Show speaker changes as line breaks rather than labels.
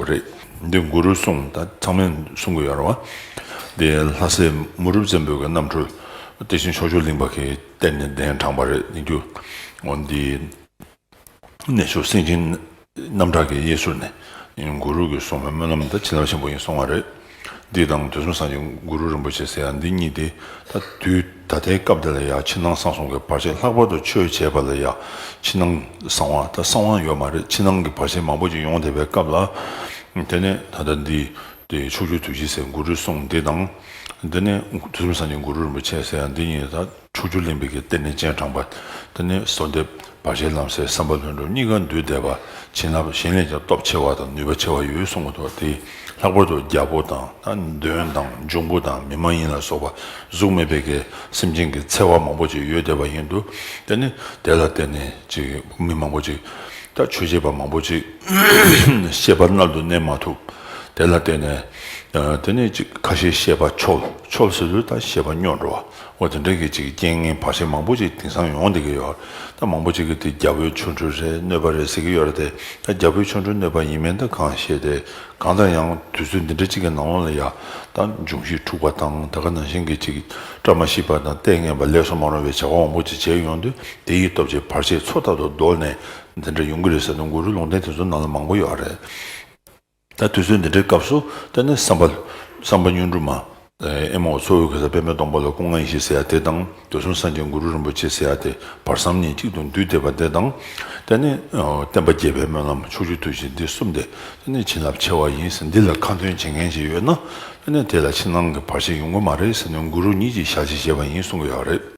རེད་དེ་གུ་རུ་གསུང་ད་ཚང་མས་གསུང་གི་ཡོད་རེད་བ། དེ་ལྷ་སའི་མུ་རུབ་བཙན་པོའི་གནམ་གྲུ་དེ་བཞིན་ཕྱོགས་ཆོས་གླིང་པ་གིས་གཏེར་ནས་གདན་དྲངས་པ་རེད་དེ། འདི་ནས་ཤོར་སེང་ཆེན་རྣམ་གྲགས་ཀྱི་གཡས་ཟུར་ནས་གུ་རུ་གི་གསུང་བའི་སྨོན་ལམ་དང་བྱིན་རླབས་ཆེན་པོ་ཡིན་གསུང་བ་རེད། འདི་དང་དུས་གསུམ་སངས་རྒྱས་གུ་རུ་རིན་པོ་ཆེ་ཟེར་ཡང་འདི་གཉིས་ཏེ། ད་དུས་ད་ལྟའི་སྐབས་འདི་ལ་ཡང་ཕྱི་ནང་གསང་གསུམ་གྱི་བར་ཆད་ལྷག་པར་དུ་ཆོས་བྱེད་པ་ལ་ཡང་ཕྱི་ནང་གསང་བ་ད་གསང་བ་ཡོད་མ་རེད་ཕྱི་ནང་གི་བར་ཆད་མང་པོ་ཅིག་ཡོང་བསྡད་པའི་སྐབས་ལ། དེ་ནས་ད་ལྟ་འདི་དེ་ཕྱོགས་བཅུ་དུས་བཞི་ཟེར་གུ་རུའི་གསུང་འདི་དང། འདི་ནས་དུས་གསུམ་སངས་རྒྱས་གུ་རུ་རིན་པོ་ཆེ་ཟེར་ཡང་འདི་གཉིས་ད། ཕྲུག་ཅུ་ལེན་པའི་གི་སྟེ་ནི་སྤྱན་དྲངས་པ། དེ་ནས་གསོལ་འདེབས་བར་ཆད་ལམ་སེལ་བསམ་པ་ལྷུན་གྲུབ་གཉིས་ཀ་འདུས་བཟླས་པ་བྱིན་རླབས་གཞན་ལས་ཀྱང་སྟོབས་ཆེ་བ་དང་ནུས་པ་ཆེ་བ་ཡོད་གསུང་མ་ཐག་དེས་ལྷག་པར་དུ་རྒྱལ་པོ་དང་ན་གདོན་དང་འབྱུང་པོ་དང་མི་མ་ཡིན་ལ་སོགས་པ་གཟུགས་མེད་པའི་གི་སེམས་ཅན་གྱི་འཚེ་བ་མང་པོ་ཅིག་ཡོད་བསྡད་པ་ཡིན་དུ་དེ་ནི་དེ་ལ་བརྟེན་ནས་ཅིག་མི་མང་པོ་ཅིག་དང་ཆོས་བྱེད་པ་མང་པོ་ཅིག་ཤེས་པ་རྣལ་དུ་གནས་མ་ཐུབ་དེ་ལ་བརྟེན་ནས་དེ་ནས་ཅིག་ཁ་ཞེ་ཤེས་པ་ཆོལ་ཆོལ་སེ་ལུས་དང་ཤེས་པ་སྙོག་འགྲོ་བ་ཨོ་དེ་འདྲ་གི་ཅིག་རྐྱེན་ངན་བར་ཆད་མང་པོ་ཅིག་དེང་སང་ཡོང་བསྡད་ཀྱི་ཡོད་རེད་ད་མང་པོ་ཅིག་གི་དེ་རྒྱ་བོད་ཆོ་འཕྲུལ་རེད་གནོད་པ་རེད་ཟེར་གྱི་ཡོད་རེད་དེ་ད་རྒྱ་བོད་ཆོ་འཕྲུལ་གནོད་པ་ཡིན་མིན་ད་གང་ཤེས་དེ་གང་ལྟར་ཡང་དུས་ཚོད་འདི་འདྲ་ཅིག་གི་ནང་ལོགས་ལ་ཡ་ད་འབྱུང་གཞི་འཁྲུག་པ་དང་ད་ག་ནང་བཞིན་གྱི་ཅིག་བཀྲ་མ་ཤིས་པ་དང་ལྟས་ངན་པ་ལེགས་སོ་མ་རུང་བའི་བྱ་བ་མང་པོ་ཅིག་བྱས་ཡོང་དུས་དེ་ཡི་སྟོབས་ཀྱིས་བར་ཆད་ཚོ་ཐར་དུ་བཟློག་ནས་འདི་འདྲ་ཡོང་གི་རེད་ཟེར་དུས་མགོ་རུལ་ལུང་བསྟན་དེ་ཚོ་ནང་ལ་མང་པོ་ཡོད་རེད། ད་དུས་ཚོད་འདི་འདྲའི་སྐབས་སུ་ལྟ་ནས་བསམ་པ། བསམ་པ་གཉོན་འབྲུ་མ། ཨེ་མའོ་གཙོ་བོའི་གེ་སར་པདྨའི་སྟོང་པ་ལ་སྐུ་ལྔ་ཡེ་ཤེས་ཟེར་ཡ་དེ་དང་དུས་གསུམ་སངས་རྒྱས་གུ་རུ་རིན་པོ་ཆེ་ཟེར་ཡ་དེ་བར་བསམ་གཉིས་གཅིག་ཏུ་འདུས་བསྡེབས་པ་དེ་དང། ལྟ་ནས། བསྟན་པ་རྒྱས་པའི་སྨོན་ལམ་ཕྱོགས་བཅུར་ཐོས་ཤིག་འདི་གསུམ་སྟེ་ལྟ་ནས་བྱིན་རླབས་ཆེ་བ་ཡིན་ཟེར་འདི་ལ་ཁ་འདོན་བྱེད་མཁན་ཞིག་ཡོད་ན་ལྟ་ནས་དེ་ལ་ཕྱི་ནང་གི་བར་ཆད་ཡོང་གི་མ་རེད་ཟེར་ནས་གུ་རུ་ཉིད་ཀྱིས་བཞག་ཅིག་བཞེས་པ་ཡིན་གསུང་གི་ཡོད་རེད།